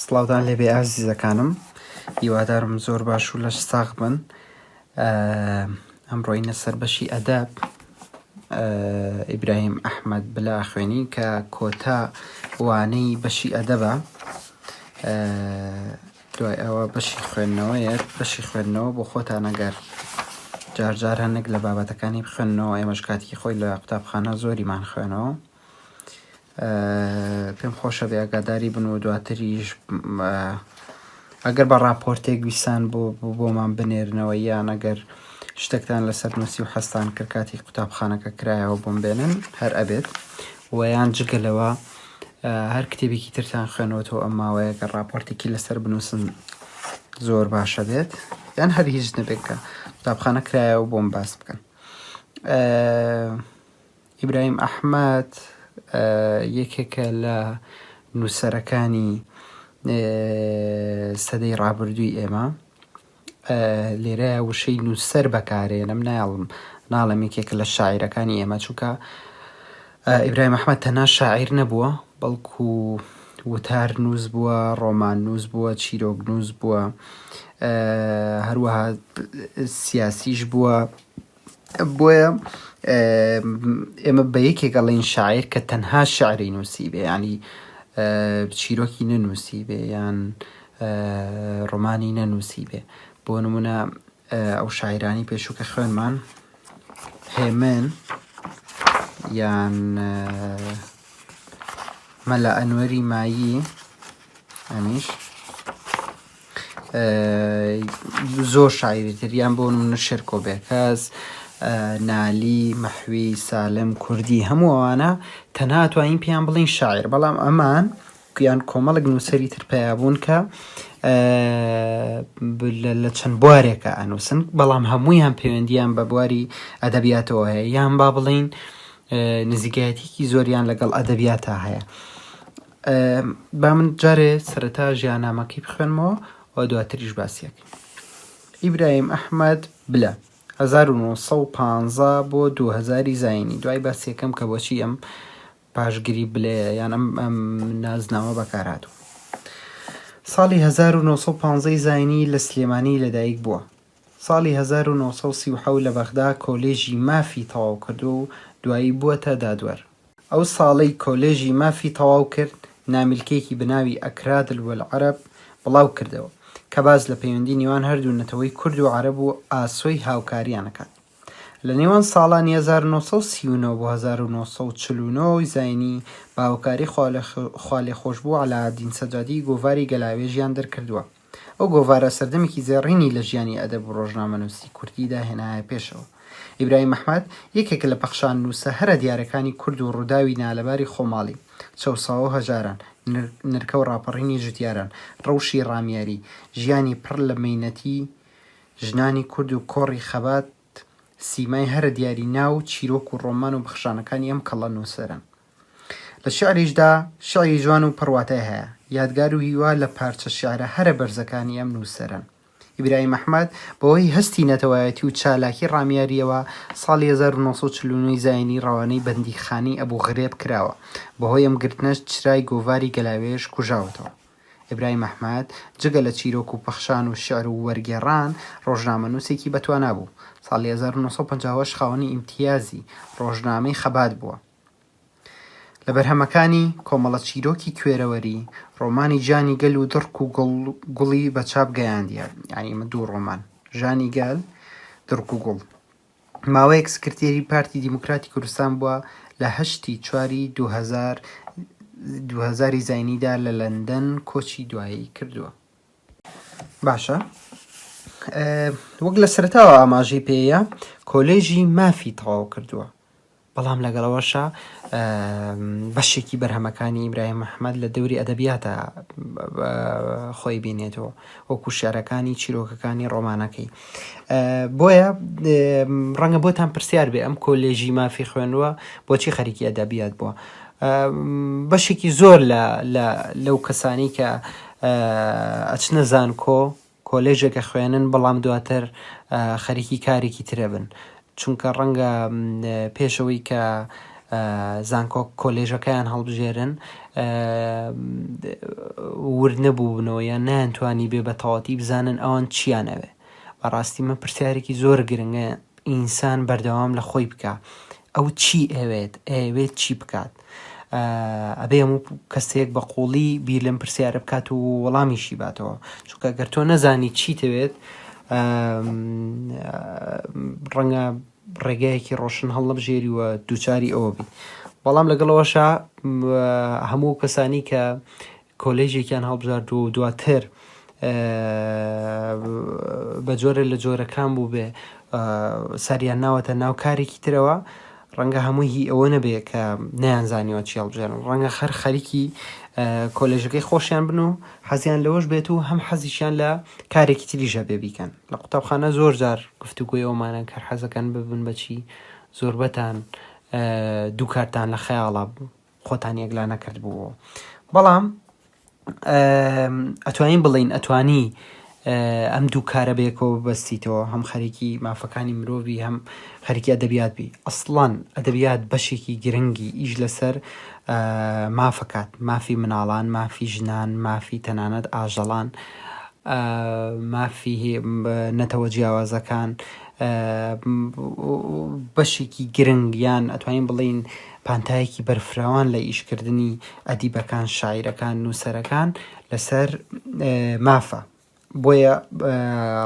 سڵاودان لێبێ ئازیزەکانم هیوادارم زۆر باش و لەش ساغ بن ئەمڕۆینە سەر بەشی ئەدەب ئیبراهیم ئەحمد بلا خوێنی کە کۆتا وانەی بەشی ئەدەبە دوای ئەوە بەشی خوێندنەوەیە، بەشی خوێندنەوە بۆ خۆتان ئەگەر جار جار هەندێک لە بابەتەکانی بخوێننەوە ئێمەش کاتیکی خۆی لە قوتابخانە زۆریمان خوێنەوە پێم خۆشە بێ ئەگاداری بن و دواتریش ئەگەر بە ڕاپۆرتێک ویسان بۆ بۆمان بنێرنەوە یان ئەگەر شتێکتان لەسەر نووسی و حەستان کرد کاتی قوتابخانەکە کرایەوە بۆم بێنن هەر ئەبێت ویان جگەلەوە هەر کتێبێکی ترتان خوێنەوەتەوە ئەم ماوەیە کە ڕاپۆرتێکی لەسەر بنووسن زۆر باشە بێت یان هەر هیچ نەبێت کە قوتابخانە کرایەوە بۆم باس بکەن ئیبراهیم ئەحمد یەکێکە لە نووسەرەکانی سەدەی ڕابردووی ئێمە لێرە وشەی نووسەر بەکارێنم نایڵم ناڵێم یەکێکە لە شاعیرەکانی ئێمە چونکە ئیبراهیم ئەحمەد تەنها شاعیر نەبووە بەڵکو وتار نووس بووە ڕۆمان نووس بووە چیرۆک نووس بووە هەروەها سیاسیش بووە بۆیە ئێمە بە یەکێک ئەڵێن شاعیر کە تەنها شعری نووسیبێ ینی چیرۆکی نەنووسیبێ یان ڕۆمانی نەنووسیبێ بۆ نمونە ئەو شاعرانی پێشوو کە خوێنمان هێمن یان مەلا ئەنوەری مایی ئەمیش زۆر شاعیری تر یان بۆ نمونە شێرکۆ بێکەس، نالی، مەحوی، سالم، کوردی هەموو ئەوانە تەنها توانین پێیان بڵین شاعیر بەڵام ئەمان گویان کۆمەڵک نووسری تر پیا بوون کە لە چەند بوارێکە ئەنووسن بەڵام هەمویان پەیوەندیان بە بواری ئەدەبیاتەوە هەیە یان با بڵین نزیکایەتیکی زۆریان لەگەڵ ئەدەبیاتا هەیە. با من جارێ سەرەتا ژیانامەکەی بخوێنمەوە و دواتریش باسیەکەین ئیبراهیم ئەحمد بلە 1950 بۆ 2000 زینی دوای باسیەکەم کە بۆچی ئەم پاشگری بلێ یان ئەم ئەم نازناوە بەکارهاتوو ساڵی 1950 زینی لە سلێمانی لەدایک بووە ساڵی 1930 لە بەغدا کۆلێژی مافی تەواو کردو و دوایی بووە تا دادوەر ئەو ساڵەی کۆلێژی مافی تەواو کرد، نامیلکەیەکی بەناوی اکرادل والعرب بڵاو کردەوە، کە باس لە پەیوەندی نێوان هەردوو نەتەوەی کورد و عەرەب و ئاسۆی هاوکاریان ئەکات. لە نێوان ساڵانی هەزار و نۆ سەد و سی و نۆ بۆ هەزار و نۆ سەد و چل و نۆ ی زاینی بە هاوکاری خوالێخۆشبوو عەلائەدین سەجادی گۆڤاری گەلاوێژیان دەرکردووە. ئەو گۆڤارە سەردەمێکی زێڕینی لە ژیانی ئەدەب و ڕۆژنامەنووسی کوردیدا هێنایە پێشەوە. ئیبراهیم ئەحمەد یەکێکە لە پەخشاننووسە هەرە دیارەکانی کورد و ڕووداوی نالەباری خۆماڵی، چەوساوە و هەژاران، نرکە و ڕاپەڕینی جوتیاران، ڕەوشی ڕامیاری، ژیانی پڕ لە مەینەتی ژنانی کورد و کۆڕی خەبات سیمای هەرە دیاری ناو و چیرۆک و ڕۆمان و پەخشانەکانی ئەم کەڵە نووسەرەن. لە شیعریشدا شیعری جوان و پڕ واتای هەیە، یادگار و هیوا لە پارچە شیعرە هەرە بەرزەکانی ئەم نووسەرەن. ئیبراهیم ئەحمەد بەهۆی هەستی نەتەوایەتی و چالاکی ڕامیارییەوە ساڵی هەزار و نۆ سەد و چل و نۆ زایینی ڕەوانەی بەندیخانەی ئەبوو غرێب کراوە، بەهۆی ئەم گرتنەش چرای گۆڤاری گەلاوێژ کوژاوەتەوە. ئیبراهیم ئەحمەد جگە لە چیرۆک و پەخشان و شیعر و وەرگێڕان، ڕۆژنامەنووسێکی بەتوانا بوو، ساڵی هەزار و نۆ سەد و پەنجا و هەشت خاوەنی ئیمتیازی ڕۆژنامەی خەبات بووە. لە بەرهەمەکانی، کۆمەڵە چیرۆکی کوێرەوەری، ڕۆمانی جانی گەل و دڕک و گوڵ، گوڵی بە چاپ گەیاندیە، یانی ئمە دوو ڕۆمان، ژانی گەل، دڕک و گوڵ. ماوەیەک سکرتێری پارتی دیموکراتی کوردستان بووە لە هەشتی چواری دوو هەزار دوو هەزاری زاینیدا لە لەندەن کۆچی دوایی کردووە. باشە وەک لە سەرەتاوە ئاماژەی پێیە کۆلێژی مافی تەواو کردووە بەڵام لەگەڵ ئەوەشا بەشێکی بەرهەمەکانی ئیبراهیم محمەد لە دەوری ئەدەبیاتا خۆی بینێتەوە وەکو شعرەکانی چیرۆکەکانی ڕۆمانەکەی بۆیە ڕەنگە بۆتان پرسیار بێ ئەم کۆلێژی مافی خوێنوە بۆچی خەریکی ئەدەبیات بووە بەشێکی زۆر لە لەو کەسانی کە ئەچنە زانکۆ کۆلێژێک ئەخوێنن بەڵام دواتر خەریکی کارێکی تر ئەبن چونکە ڕەنگە پێش ئەوەی کە زانکۆ کۆلێژەکەیان هەڵبژێرن ورد نەبووبنەوە یان نەیانتوانی بێ بە تەواتی بزانن ئەوان چیان ئەوێ بەڕاستی من پرسیارێکی زۆر گرنگە ئینسان بەردەوام لە خۆی بکە ئەو چی ئەوێت ئەیەوێت چی بکات ئەبێ هەموو کەسێک بە قوڵی بیر لەم پرسیارە بکات و وەڵامیشی باتەوە چونکە گەر تۆ نەزانی چی تەوێت ڕەنگە ڕێگایەکی ڕۆشن هەڵنەبژێری و دووچاری ئەوە بی بەڵام لەگەڵەوەشە هەموو کەسانی کە کۆلێژێکیان هەڵبژاردووە و دواتر بە جۆرە لە جۆرەکان بوو بێ ساریان ناوەتە ناو کارێکی ترەوە ڕەنگە هەمووی هی ئەوە نەبێ کە نەیانزانیەوە چی هەڵبژێن ڕەنگە خەر خەریکی کۆلێژەکەی خۆشیان بن و حەزیان لەوەش بێت و هەم حەزیشیان لە کارێکی تریژە بێ بیکەن لە قوتابخانە زۆر جار گفتوگوی ئەومانە کە حەزەکەن ببن بەچی زۆربەتان دووکارتان لە خەیاڵا بوو خۆتان یەکلا نەکردبوو بەڵام ئەتوانین بڵین ئەتوانی ئەم دوو کارە بێکەوە بەستیتەوە هەم خەرێکی مافەکانی مرۆڤی هەم خەرکی ئەدەبیات بی ئەسڵان ئەدەبیات بەشێکی گرنگی ئیش لەسەر مافەکات مافی مناڵان مافی ژنان مافی تەنانەت ئاژەڵان مافی نەتەوە جیاوازەکان بەشێکی گرنگیان ئەتوانین بڵین پانتایەکی بەرفراوان لە ئیشکردنی ئەدیبەکان، شاعیرەکان، نووسەرەکان لەسەر مافە. بۆیە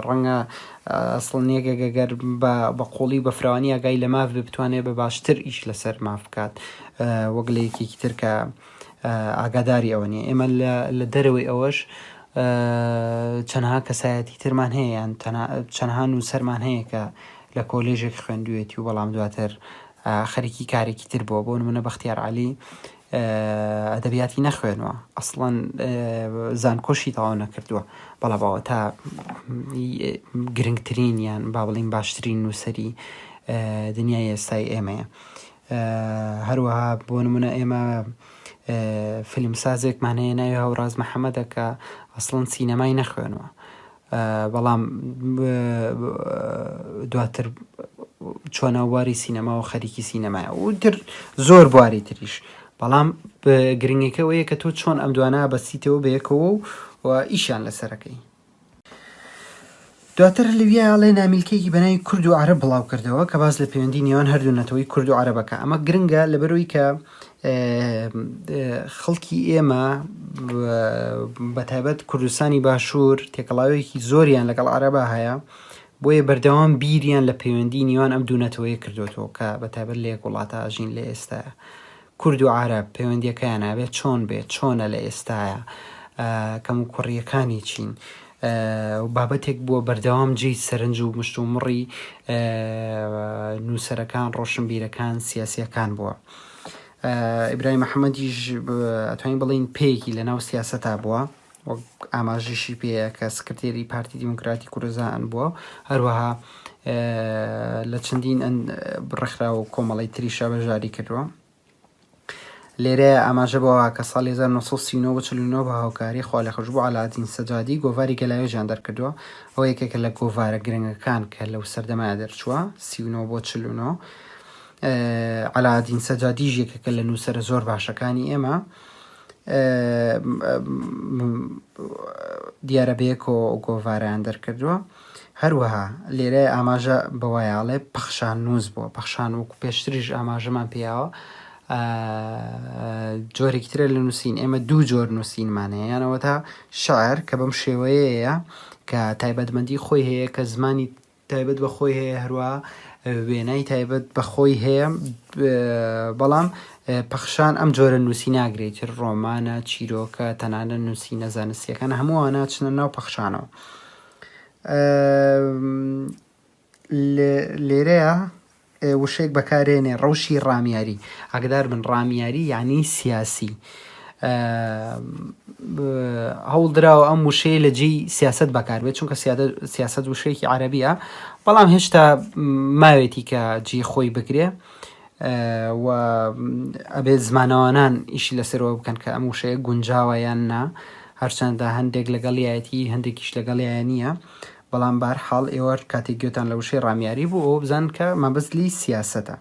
ڕەنگە سڵنیەکێک گەگەر بە قوڵی و بەفراوانی ئاگای لە ماف بێ بتوانێت بە باشتر ئیش لەسەر ماف بکات وەک لە یەکێکی تر کە ئاگاداری ئەوە نیە ئێمە لە دەرەوەی ئەوەش چەنها کەسایەتی ترمان هەیە یان چەنها نووسەرمان هەیە کە لە کۆلێژێک خوێندوێتی و بەڵام دواتر خەریکی کارێکی تر بووە بۆ نمونە بەختیار عەلی ئەدەبیاتی نەخوێنوە ئەسڵەن زانکۆشی تەواو نەکردووە بەڵا باوە تا گرنگترین یان با بڵین باشترین نووسری دنیای ئێستای ئێمەیە هەروەها بۆ نمونە ئێمە فیلمسازێکمانەیە ناوی هەوراز محەممەدەکە ئەسڵەن سینەمای نەخوێنوە بەڵام دواتر چۆنە واری سینەما و خەریکی سینەمایە و تر زۆر بواری تریش بەڵام گرنگەکەەوەیە کە تۆ چۆن ئەم دوانە بەسیتەوە بەیەکەوە و ئیشیان لەسەرەکەی دواتر لویا لێ نامیلکەیەکی بەناوی کورد و عرب بڵاو کردەوە کە باز لە پەیوەندی نێوان هەردوو نەتەوەی کورد و عربەکە ئەمە گرنگە لەبەرەوەی کە خەڵکی ئێمە بەتابەت کوردستانی باشوور تێکەڵاوێکی زۆریان لەگەڵ عربە هەیە بۆیە بەردەوام بیریان لە پەیوەندی نیوان ئەم دوونەتەوەی کردوێتەوە کە بەتابەت لە یەک وڵاتە ئاژین لە ئێستا کورد و عرە پەیوەندیەکەیان نابێت چۆن بێت چۆنە لە ئێستاە کەم و کوڕیەکانی چین و بابەتێک بووە بەردەوام جێی سەرنج و مشتومڕی نووسەرەکان، ڕۆشنبیرەکان، سیاسییەکان بووە. ئیبراهیم محەمەدیش ئەتوانین بڵێین پێیەکی لەناو سیاسەتا بووە، وەک ئاماژەشی پێیە کە سکرتێری پارتی دیموکراتی کوردستان بووە، هەروەها لە چەندین ڕێکخراو و کۆمەڵەی تریشا بەشداری کردووە. لێرەیا ئاماژە بەوە کە ساڵی هەزار و نۆ سەد و سی و نۆ بە چل و نۆ بە هاوکاری خوالێخۆشبوو عەلائەدین سەجادی گۆڤاری گەلاوێژیان دەرکردووە، ئەوە یەکێکە لە گۆڤارە گرنگەکان کە لەو سەردەمەیا دەرچووە، سی و نۆ بۆ چل و نۆ. عەلائەدین سەجادیش یەکێکە لە نووسەرە زۆر باشەکانی ئێمە. دیارە بەیەکەوە گۆڤارەیان دەرکردووە. هەروەها لێرە ئاماژە بەوەیە ئەڵێ پەخشان نووس بووە پەخشان وەکو پێشتریش ئاماژەمان پیاوە جۆرێکی ترە لە نووسین ئێمە دوو جۆر نووسینمان هەیە یانەوە تا شعر کە بەم شێوەیەیە کە تایبەتمەندی خۆی هەیە کە زمانی تایبەت بە خۆی هەیە هەروە وێنای تایبەت بە خۆی هەیە بەڵام پەخشان ئەم جۆرە نووسی ناگرێت ڕۆمانە چیرۆکە تەنانە نووسی نەزانستیەکان هەمووانە چنە ناو پەخشانەوە لێرەیا وشەیەک بەکارێنێ ڕەوشی ڕامیاری ئاگدار بن ڕامیاری یعنی سیاسی هەوڵ دراوە ئەم وشەیە لە جێی سیاست بەکاربێت چونکە سیاست وشەیەکی عربیە بەڵام هێشتا ماوێتی کە جی خۆی بگرێ و ئەبێت زمانەوانان ئیشی لەسەرەوە بکەن کە ئەم وشەیە گونجاوە یان نا هەرچەندە هەندێک لەگەڵیایەتی هەندێکیش لەگەڵیان نییە بەڵام بار حاڵ ئێوە کاتێک گوێتان لە وشەی ڕامیاری بوو ئەوە بزان کە مەبەست لی سیاسەتە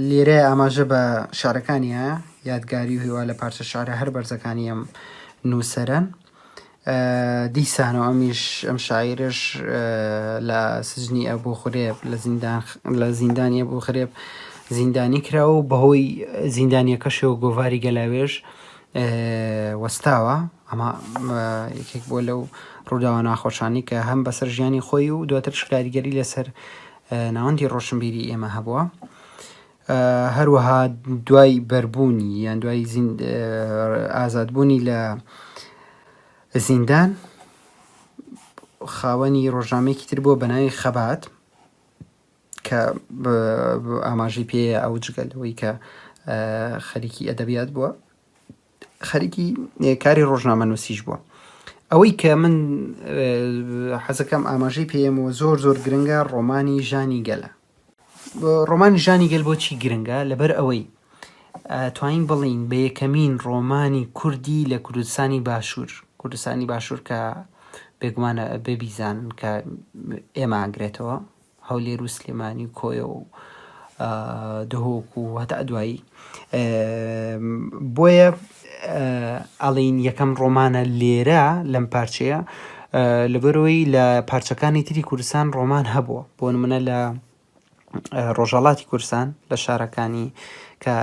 لێرە ئاماژە بە شارەکانیە یادگاری و هیوا لە پارچە شارە هەر بەرزەکانیم نووسەرن دیسان و ئەمیش ئەم شاعیرەش لە سجنی ئەبوو خورێب لە زیندان لە زیندانی ئەبوو خرێب زیندانی کرا و بەهۆی زیندانیەکەشەوە گۆڤاری گەلاوێش وەستاوە ئەمە یەکێک بۆ لەو ڕووداوە ناخۆشانی کە هەم بەسەر ژیانی خۆی و دواتر شکاریگەری لەسەر ناوەندی ڕۆشنبیری ئێمە هەبووە هەروەها دوای بەربوونی یان دوای ئازادبوونی لە زیندان خاوەنی ڕۆژنامەیەکی تر بووە بە ناوی خەبات کە ئاماژی پێ ئەو جگەلەوەی کە خەریکی ئەدەبیات بووە خەریکی کاری ڕۆژنامە نووسیش بووە ئەوەی کە من حەزەکەم ئاماژەی پێمەوە زۆر زۆر گرنگە ڕۆمانی ژانی گەلە ڕۆمانی ژانی گەل بۆچی گرنگە لەبەر ئەوەی توانین بڵین بە یەکەمین ڕۆمانی کوردی لە کوردستانی باشوور کوردستانی باشوور کە بێگومانە بێ بیزانن کە ئێماگرێتەوە هەولێر و سلێمانی و کۆیە و دهۆک و هەتا دوایی بۆیە ئەڵێین یەکەم ڕۆمانە لێرە لەم پارچەیە لەبەرەوەی لە پارچەکانی تری کوردستان ڕۆمان هەبووە بۆ منە لە ڕۆژهڵاتی کورسان لە شارەکانی کە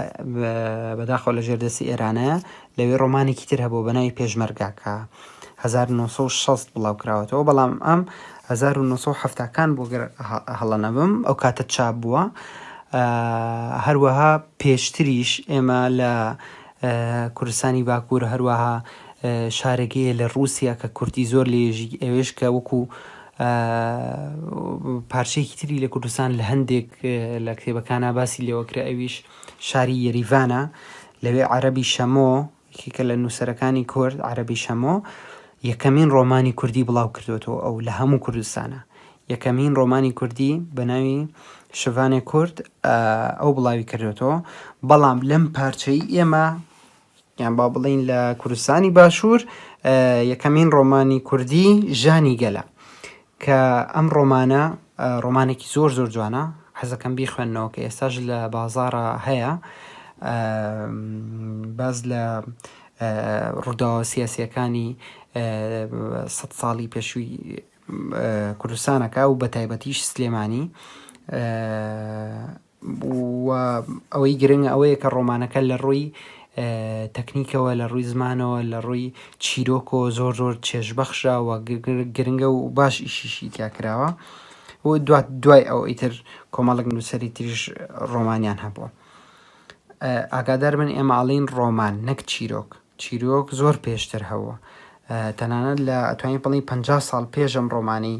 بەداخەوە لە ژێردەسی ئێرانە لەوێ ڕۆمانێکی تر هەبووە بە ناوی پێشمەرگە کە هەزار و نۆ سەد و شەست بڵاو کراوەتەوە، بەڵام ئەم هەزار و نۆ سەد و حەفتا کان بوو گەر هەڵە نەبم ئەو کاتە چاپ بووە. هەروەها پێشتریش ئێمە لە کوردستانی باکوور هەروەها شارێکەیە لە ڕووسیا کە کوردی زۆر لێژی ئەوێش کە وەکو پارچەیەکی تری لە کوردستان لە هەندێک لە کتێبەکانە باسی لێوەکرا ئەویش شاری یەریڤانە، لەوێ عەرەبی شەمۆ، یەکێکە لە نووسەرەکانی کورد، عەرەبی شەمۆ، یەکەمین ڕۆمانی کوردی بڵاو کردووەتەوە، ئەو لە هەموو کوردستانە. یەکەمین ڕۆمانی کوردی بە ناوی شڤانێ کورد ئەو بڵاوی کردووەتەوە، بەڵام لەم پارچەی ئێمە، یان با بڵێین لە کوردستانی باشوور یەکەمین ڕۆمانی کوردی ژانی گەلە کە ئەم ڕۆمانە ڕۆمانێکی زۆر زۆر جوانە حەزەکەم بیخوێندنەوە کە ئێستاش لە بازارە هەیە باز لە ڕووداوە سیاسیەکانی سە ساڵی پێشووی کوردستانەکە و بە تایبەتیش سلێمانی و ئەوەی گرنگە ئەوەیە کە ڕۆمانەکە لە ڕووی تەکنیکەوە لە ڕووی زمانەوە لە ڕووی چیرۆکۆ زۆر زۆر چێژبەخشە و گرنگە و باش ئیشیشی تیا کراوە و دوات دوای ئەو ئیتر کۆمەڵک نووسری تریش ڕۆمانیان هەبووە ئاگادار بن ئێمە ئاڵین ڕۆمان نەک چیرۆک چیرۆک زۆر پێشتر هەبووە تەنانەت لە ئەتوانین بڵێین پەنجا ساڵ پێش ئەم ڕۆمانەی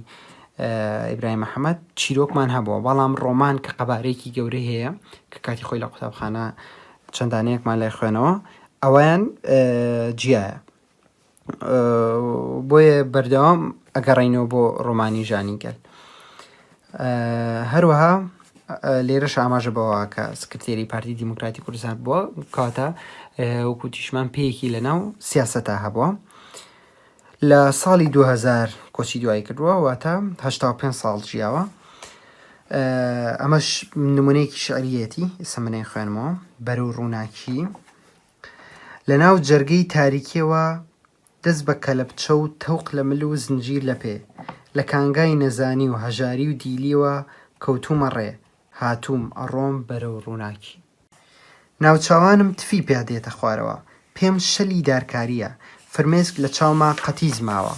ئیبراهیم محەمەد چیرۆکمان هەبووە بەڵام ڕۆمان کە قەبارەیەکی گەورەی هەیە کە کاتی خۆی لە قوتابخانە چەند دانەیەکمان لای خوێنەوە ئەویان جیایە بۆیە بەردەوام ئەگەڕینەوە بۆ ڕۆمانی ژانی گەل هەروەها لێرەش ئاماژە بەوە کە سکرتێری پارتی دیموکراتی کوردستان بووە کاتە وەکو تیشمان پێیەکی لەناو سیاسەتا هەبووە لە ساڵی 2000 کۆچی دوایی کردووە واتە 5 ساڵ ژیاوە ئەمەش نمونەیەکی شعریەتی سمنەی خوێنمەوە بەرەو ڕووناکی لە ناو جەرگەی تاریکیەوە دەست بە کەلەپچە و تەوق لە مل و زنجیر لە پێ، لە کانگای نەزانی و هەژاری و دیلیەوە کەوتوومە ڕێ، هاتووم، ئەڕۆم بەرەو ڕووناکی. ناوچاوانم تفی پیا دێتە خوارەوە، پێم شەلی دارکارییە، فرمێسک لە چاوما قەتیس ماوە.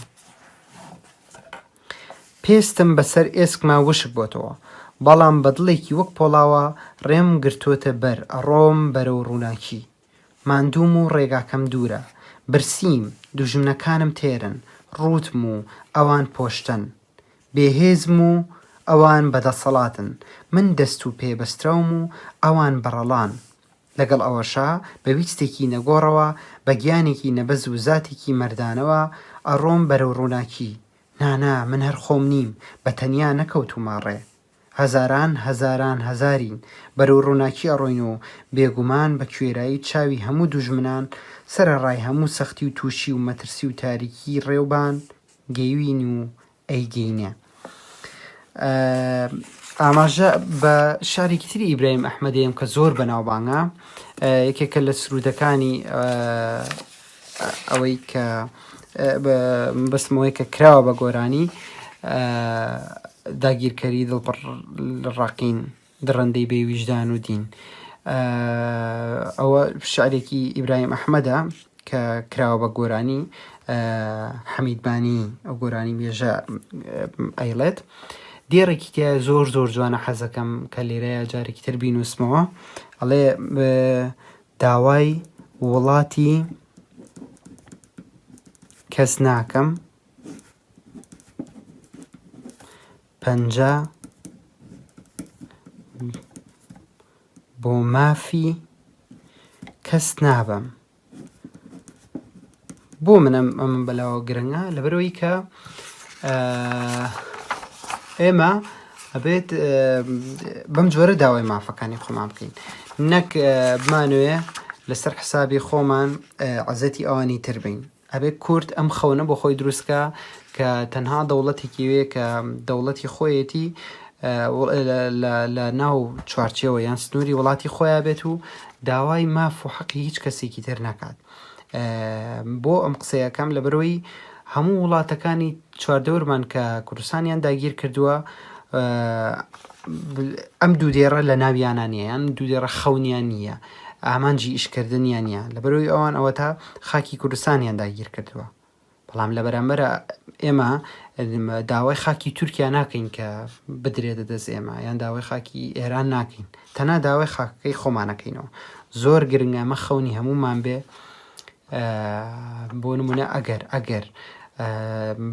پێستم بە سەر ئێسکما وشک بۆتەوە، بەڵام بە دڵێکی وەک پۆڵاوە ڕێم گرتۆتە بەر، ئەڕۆم بەرەو ڕووناکی. ماندووم و ڕێگاکەم دوورە. برسیم، دوژمنەکانم تێرن. ڕووتم و ئەوان پۆشتەن. بێهێزم و ئەوان بەدەسەڵاتن. من دەست و پێ بەستراوم و ئەوان بەڕەڵان. لەگەڵ ئەوەشا بە ویستێکی نەگۆڕەوە، بە گیانێکی نەبەز و زاتێکی مەردانەوە ئەڕۆم بەرەو ڕووناکی. نا نا، من هەر خۆم نیم، بە تەنیا نەکەوتوومە ڕێ. هەزاران هەزاران هەزارین، بەرەو ڕووناکی ئەڕۆین و بێگومان بە کوێرایی چاوی هەموو دوژمنان سەرەڕای هەموو سەختی و تووشی و مەترسی و تاریکیی ڕێوبان گەیوین و ئەیگەینێ. ئاماژە بە شعرێکی تری ئیبراهیم ئەحمەد دەیەم کە زۆر بەناوبانگە، یەکێکە لە سروودەکانی، ئەوەی کە مەبەستم ئەوەیە کە کراوە بە گۆرانی داگیرکەری دڵپڕ ڕەقین دڕەندەی بێ ویژدان و دین ئەوە شعرێکی ئیبراهیم ئەحمەدە کە کراوە بە گۆرانی حەمیدبانی ئەو گۆرانی مێژە ئەیڵێت دێڕێکی تیا زۆر زۆر جوانە حەزەکەم کە لێرەیە جارێکی تر بینوسمەوە ئەڵێ داوای وڵاتی کەس ناکەم پەنجا بۆ مافی کەس نابەم بۆ من ئەم ئەم بەلاوە گرنگە لەبەرەوەی کە ئێمە ئەبێت بەم جۆرە داوای مافەکانی خۆمان بکەین نەک بمانوێ لەسەر حسابی خۆمان عزەتی ئەوانی تر بین ئەبێت کورد ئەم خەونە بۆ خۆی دروستکە کە تەنها دەوڵەتێکی وێ کە دەوڵەتی خۆیەتی لە ناو چوارچەوە یان سنووری وڵاتی خۆیان بێت و داوای ماف و حەقی هیچ کەسێکی تر ناکات. بۆ ئەم قسەیەکەم لەبەرەوەی هەموو وڵاتەکانی چواردەورمان کە کوردستانیان داگیر کردووە ئەم دوو دێڕە لە ناویانە نیە یان دوو دێڕە خەونیان نییە ئامانجی ئیشکردنیان نیە لەبەرەوەی ئەوان ئەوە تا خاکی کوردستانیان داگیر کردووە بەڵام لە بەرامبەر ئێمە داوای خاکی تورکیا ناکەین کە بدرێتە دەست ئێمە یان داوای خاکی ئێران ناکەین تەنا داوای خاکەکەی خۆمانەکەینەوە زۆر گرنگە مە خەونی هەمومان بێ بۆ نمونە ئەگەر ئەگەر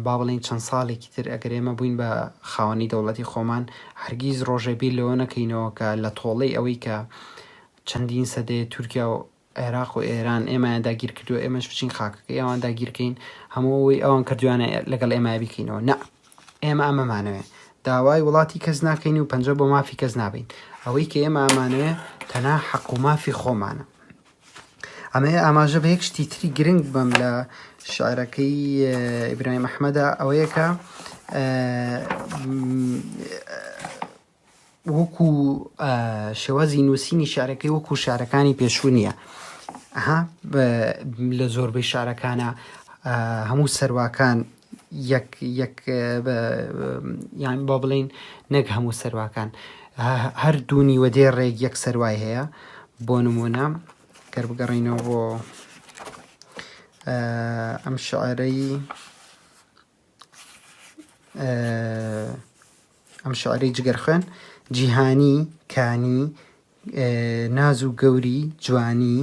با بڵین چەند ساڵێکی تر ئەگەر ئێمە بووین بە خاوەنی دەوڵەتی خۆمان هەرگیز ڕۆژێبی لەوە نەکەینەوە کە لە تۆڵەی ئەوەی کە چەندین سەدەیە تورکیا و عێراق و ئێران ئێمەیان داگیر کردووە ئێمەش بچین خاکەکەی ئەوان داگیرکەین هەموو ئەوەی ئەوان کردویانە لەگەڵ ئێمە بیکەینەوە نە ئێمە ئەمەمانەوێ داوای وڵاتی کەس ناکەین و پەنجە بۆ مافی کەس نابین ئەوەی کە ئێمە ئەمانەوێ تەنا حەق و مافی خۆمانە ئەمەیە ئاماژە بە یەک شتی تری گرنگ بم لە شعرەکەی ئیبراهیم ئەحمەدا ئەوەیەکە وەکو شێوازی نووسینی شارەکەی وەکو شارەکانی پێشوو نییە ها لە زۆربەی شارەکانە هەموو سەرواکان یان بۆ بڵین نەک هەموو سەرواکان هەر دوونی وە دێ ڕێک یەک سەروای هەیە بۆ نمونە گەر بگەڕینەوە بۆ ئەم شعرەی ئەم شعرەی جگەرخوێن جیهانی کانی ناز و گەوری جوانی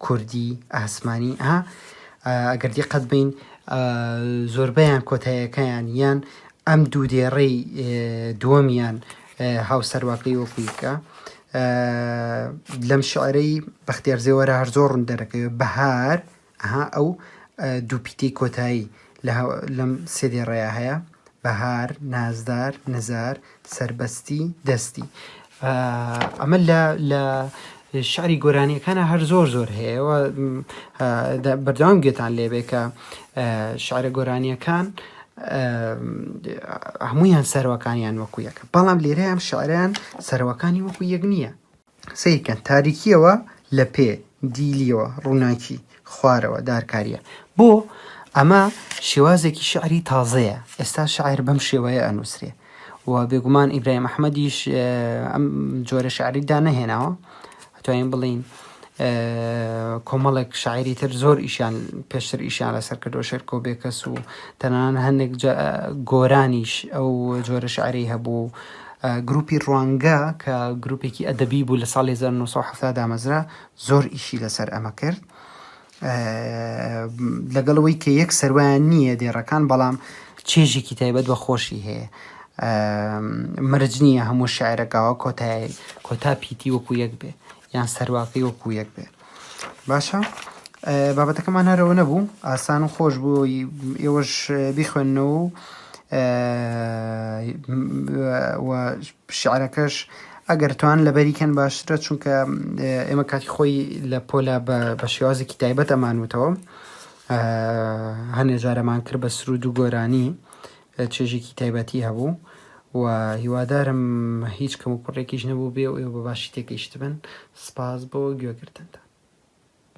کوردی ئاسمانی ئا ئەگەر دیقەت بین زۆربەیان کۆتایەکەیان یان ئەم دوو دێڕەی دووەمیان هاوسەرواکەی وەکویکە لەم شعرەی بەختێرزێوەرە هەر زۆر ڕوون دەرەکەوێت بەهار ئەها ئەو دوو پیتەی کۆتایی لەم سێ دێڕەیا هەیە، بەهار، نازدار، نزار، سەربەستی، دەستی. ئەمە لە شعری گۆرانیەکانە هەر زۆر زۆر هەیەەوە بەردەوام گوێتان لێبێ کە شعرە گۆرانیەکان هەمویان سەرەکانیان وەکو یەکە بەڵام لێرە ئەم شعران سەرەکانی وەکو یەک نییە سەیر کەن تاریکیەوە لە پێ دیلیەوە ڕووناکی خوارەوە دارکاریە بۆ ئەمە شێوازێکی شعری تازەیە ئێستا شاعر بەم شێوەیە ئەنووسێ و بێگومان ئیبراهیم ئەحمەدیش ئەم جۆرە شعری دا نەهێناوە توانین بڵین کۆمەڵێک شاعری تر زۆر ئیشان پێشتر ئیشان لەسەر کردو شێر کۆبێکەس و تەنان هەندێک گۆرانیش ئەو جۆرە شعری هەبوو گروپی ڕوانگە کە گروپێکی ئەدەبی بوو لە ساڵی هەزار و نۆ سەد و حەفتا دامەزرا زۆر ئیشی لەسەر ئەمە کرد لەگەڵ ئەوەی کە یەک سەروایان نییە دێڕەکان بەڵام چێژێکی تایبەت بە خۆشی هەیە مەرج نییە هەموو شاعرەکەەوە کۆتای کۆتا پیتی وەکو یەک بێ یان سەرواکەی وەکو یەک بێ باشە بابەتەکەمان هەرەوە نەبوو ئاسان و خۆش بوو ئێوەش بیخوێندنەوە و شعرەکەش ئەگەر توان لەبەریکەن باشترە چونکە ئێمە کاتی خۆی لە پۆلا بە شێوازێکی تایبەت ئەمانوتەوە هەنێ جارەمان کرد بە سرود و گۆرانی چێژێکی تایبەتی هەبوو و هیوادارم هیچ کەموکوڕێکیش نەبووبێ و ئێوە بە باشی تێگەیشتبن. سپاس بۆ گوێگرتنتان.